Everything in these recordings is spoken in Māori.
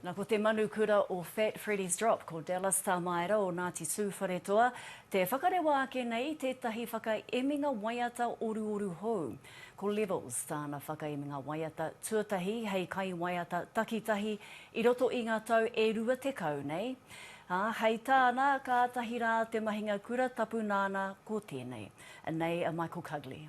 Na ko te manu kura o Fat Freddie's Drop, ko Dallas Tamaera o Ngāti Tūwharetoa, te whakarewa ake nei i tētahi whakaeminga waiata oruoru hou. Ko Levels tāna whakaeminga waiata tuatahi hei kaiwaiata takitahi i roto i ngā tau e rua tekau nei, ā, hei tāna, kātahi rā te mahinga kura tapu nāna ko tēnei. Anei a Michael Cugley.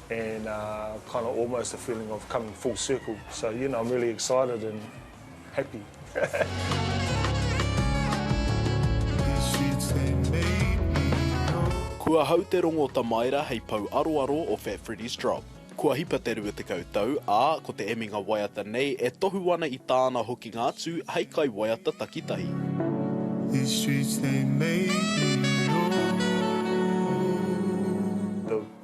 and uh kind of almost a feeling of coming full circle so you know I'm really excited and happy Kua hau te rongo tamaera hei pou aroaro o Fat Freddy's Drop. Kua hipa te 20 tau, ā, ko te eminga waiata nei e tohu ana i tāna hokinga atu hei kaiwaiata takitahi. These streets they made me oh.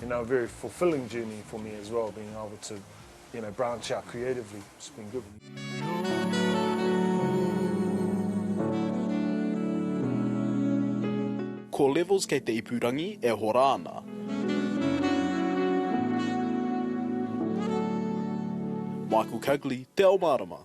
you know, a very fulfilling journey for me as well, being able to, you know, branch out creatively. It's been good. Ko Levels kei te ipurangi e hora ana. Michael Cugley, Te Ao Mārama.